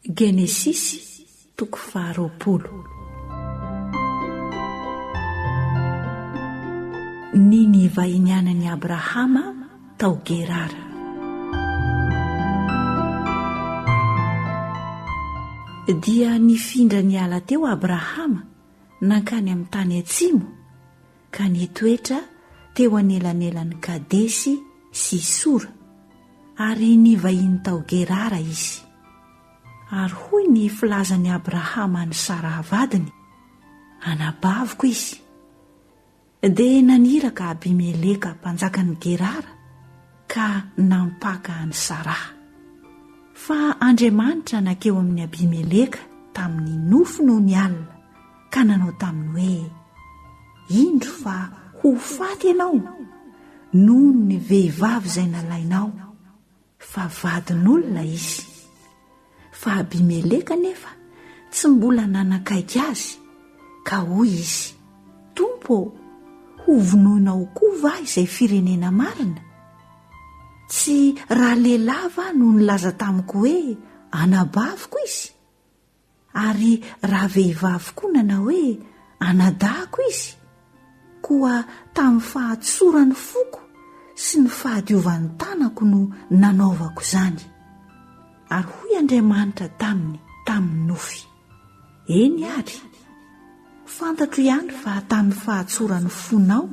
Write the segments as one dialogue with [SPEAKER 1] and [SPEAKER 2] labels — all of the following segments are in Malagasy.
[SPEAKER 1] Genesisy toko faharoapolo. Ny nivahinianan'i Abrahama tao Gerara. Dia nifindra niala teo Abrahama nankany amin'ny tany atsimo, ka nitoetra teo anelanelan'i Kadesy sy Sora, ary nivahiny tao Gerara izy. Ary hoy ny filazan'i Abrahama an'i Saraha vadiny, Anabaviko izy. Dia naniraka Abimeleka mpanjakan'i Gerara ka nampaka an'i Saraha. Fa Andriamanitra nankeo amin'i Abimeleka tamin'ny nofy noho ny alina, ka nanao taminy hoe, Indro fa ho faty ianao noho ny vehivavy izay nalainao, fa vadin'olona izy. Fa Abimeleka anefa tsy mbola nanakaiky azy, ka hoy izy, Tompo ô, hovonoinao koa va izay firenena marina? Tsy ralehilahy va no nilaza tamiko hoe, Anabaviko izy? Ary raha vehivavy koa nanao hoe, Anadahiko izy, koa tamin'ny fahatsoran'ny foko sy ny fahadiovan'ny tanako no nanaovako izany. Ary hoy Andriamanitra taminy tamin'ny nofy, Eny ary, fantatro ihany fa tamin'ny fahatsoran'ny fonao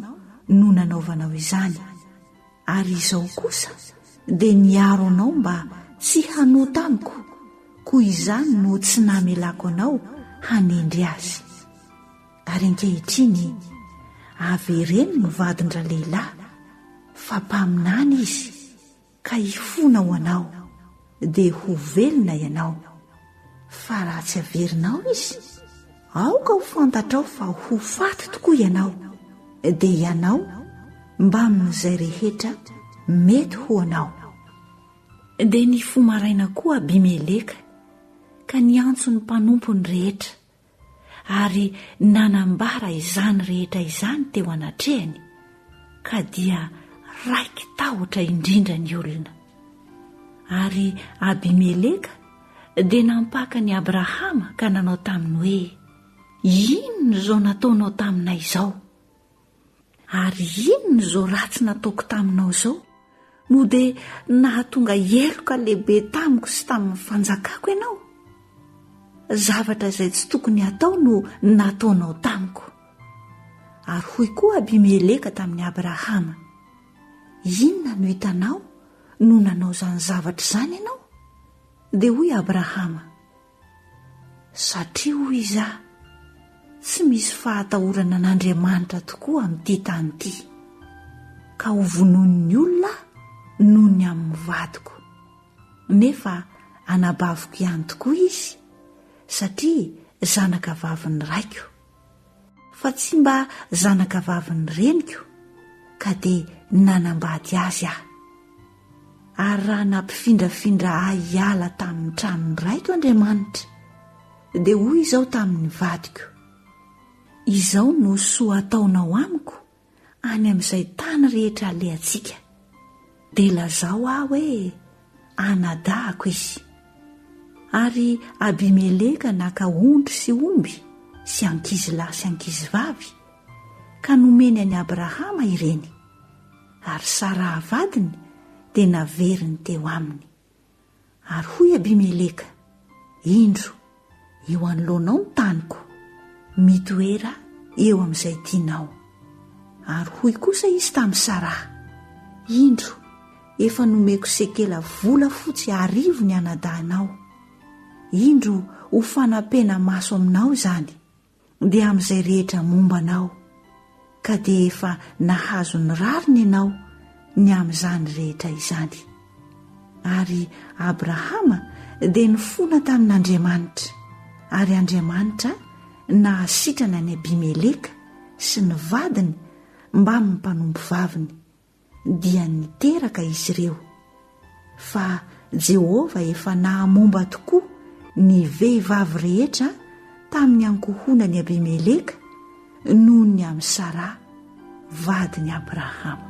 [SPEAKER 1] no nanaovanao izany. Ary izao kosa dia niaro anao mba tsy hanota amiko, koa izany no tsy namelako anao hanendry azy. Ary ankehitriny, avereno ny vadin-dralehilahy, fa mpaminany izy, ka hifona ho anao. dia ho velona ianao. Fa raha tsy averinao izy, aoka ho fantatrao fa ho faty tokoa ianao, dia ianao mbamin'izay rehetra mety ho anao. Dia nifoha maraina koa Abimeleka ka niantso ny mpanompony rehetra. ary nanambara izany rehetra izany teo anatrehany, ka dia raiki-tahotra indrindra ny olona. Ary Abimeleka dia nampaka an'i Abrahama ka nanao taminy hoe, Inona izao nataonao taminay izao? Ary inona izao ratsy nataoko taminao izao no dia nahatonga heloka lehibe tamiko sy tamin'ny fanjakako ianao? Zavatra izay tsy tokony hatao no nataonao tamiko. Ary hoy koa Abimeleka tamin'i Abrahama, Inona no hitanao no nanao izany zavatra izany ianao? Dia hoy Abrahama, Satria hoy izaho, tsy misy fahatahorana an'Andriamanitra tokoa amin'ity tany ity, ka hovonoin'ny olona aho noho ny amin'ny vadiko. Nefa anabaviko ihany tokoa izy, satria zanakavavin'ny raiko. Fa tsy mba zanakavavin'ny reniko ka dia nanambady azy aho. Ary raha nampifindrafindra ahy hiala tamin'ny tranon'ny raiko Andriamanitra, dia hoy izao tamin'ny vadiko, Izao no soa ataonao amiko any amin'izay tany rehetra alehantsika, dia lazao ahy hoe anadahako izy. Ary Abimeleka naka ondry sy omby sy ankizy lahy sy ankizy vavy, ka nomeny an'i Abrahama ireny, ary Saraha vadiny dia naveriny teo aminy. Ary hoy Abimeleka, Indro, eo anoloanao ny taniko, mitoera eo amin'izay tianao. Ary hoy kosa izy tamin'i Saraha, Indro, efa nomeko sekela volafotsy arivo ny anadahinao. Indro ho fanampena-maso aminao izany. dia amin'izay rehetra momba anao, ka dia efa nahazo ny rariny ianao ny amin'izany rehetra izany. Ary Abrahama dia nifona tamin'Andriamanitra, ary Andriamanitra nahasitrana an'i Abimeleka sy ny vadiny mbamin'ny mpanompo vaviny, dia niteraka izy ireo, fa Jehovah efa nahamomba tokoa ny vehivavy rehetra tamin'ny ankohonan'i Abimeleka noho ny amin'i Saraha, vadin'i Abrahama.